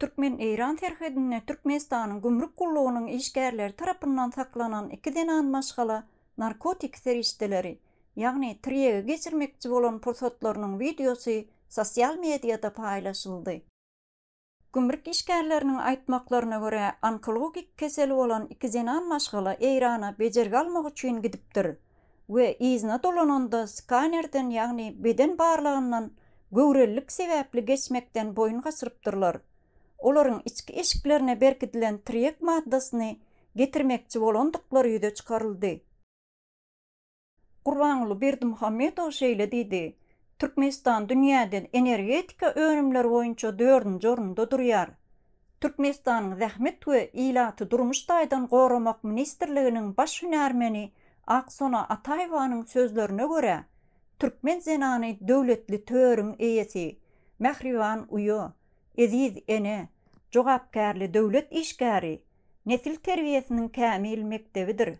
Türkmen-eýran serhedinde Türkmenistanyň gümrük gullugynyň işgärleri tarapyndan saklanan iki zenan maşgala narkotik serişdeleri, ýagny tirýegi geçirmekçi bolan pursatlarynyň wideosy sosial mediada paýlaşyldy. Gümrük işgärleriniň aýtmaklaryna görä, onkologik keseli bolan iki zenan maşgala Eýrana bejergi almak üçin gidipdir. we yzyna dolananda skanerden, ýagny beden barlagyndan göwrelilik sebäpli geçmekden boýun gaçyrypdyrlar. Olaryň içki eşiklerine berkidilen triýek maddasyny getirmekçi bolandyklary ýüze çykaryldy. Gurbanguly Berdimuhamedow şeýle diýdi, Türkmenistan dünýäde energetika önümleri boýunça dördünji orunda durýar. Türkmenistanyň Zähmet we ilaty durmuş taýdan goramak ministrliginiň baş hünärmeni Aksona Ataýewanyň sözlerine görä, türkmen zenany döwletli törüň eýesi, mähriban uýa, eziz ene, jogapkärli döwlet işgäri, nesil terbiýesiniň kämil mekdebidir.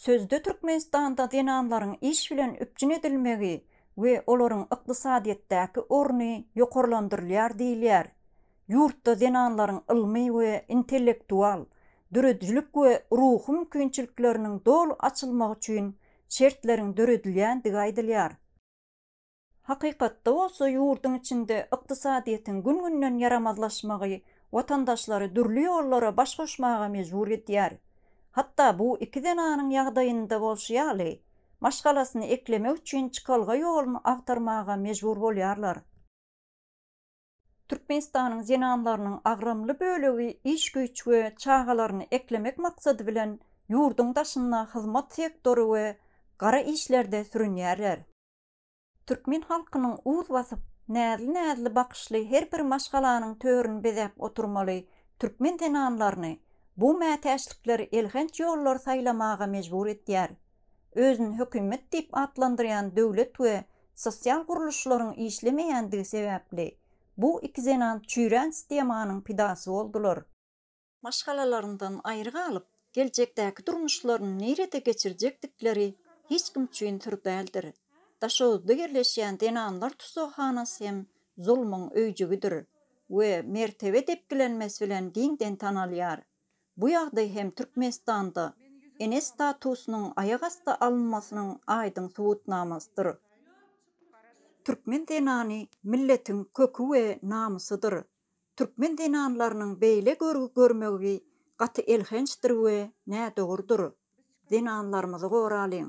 Sözde Türkmenistanda zenanlaryň iş bilen üpjün edilmegi we olaryň ykdysadyýetdäki orny ýokarlandyrylýar diýilýär. Ýurtda zenanlaryň ylmy we intellektual, döredijilik we ruhy mümkinçilikleriniň doly açylmagy üçin şertleriň döredilýändigi aýdylýar. Hakykatda bolsa ýurduň içinde ykdysadyýetiň gün-günden ýaramazlaşmagy watandaşlary dürli ýollara baş goşmaga mejbur edýär. Hatda bu iki zenanyň ýagdaýynda bolşy ýaly, maşgalasyny eklemek üçin çykalga ýoluny agtarmaga mejbur bolýarlar. Türkmenistanyň zenanlarynyň agramly bölegi iş-güýç we çagalaryny eklemek maksady bilen ýurduň daşynda hyzmat sektory we gara işlerde sürünýärler. Türkmen halkynyň uz basyp, näzli-näzli bakyşly her bir maşgalanyň törüni bezäp oturmaly türkmen zenanlaryny bu mätäçlikler elhenç ýollary saýlamaga mejbur edýär. Özüni hökümet diýip atlandyrýan döwlet we sosial gurluşlaryň işlemeýändigi sebäpli, bu iki zenan çüýrän stemanyň pidasy boldular. maşgalalaryndan aýry galyp, geljekdäki durmuşlaryny nirede geçirjekdikleri hiç kim üçin syr däldir. Daşoguzda ýerleşýän zenanlar tussaghanasy hem zulmuň öýjügidir we mertebe depgilenmesi bilen giňden tanalýar. Bu ýagdaý hem Türkmenistanda ene statusynyň aýak asty alynmasynyň aýdyň subutnamasydyr. Türkmen zenany milletiň köki we namysydyr. Türkmen zenanlarynyň beýle görgi görmegvi gaty elhençdir we nädogrudyr. Zenanlarymyzy goralyň.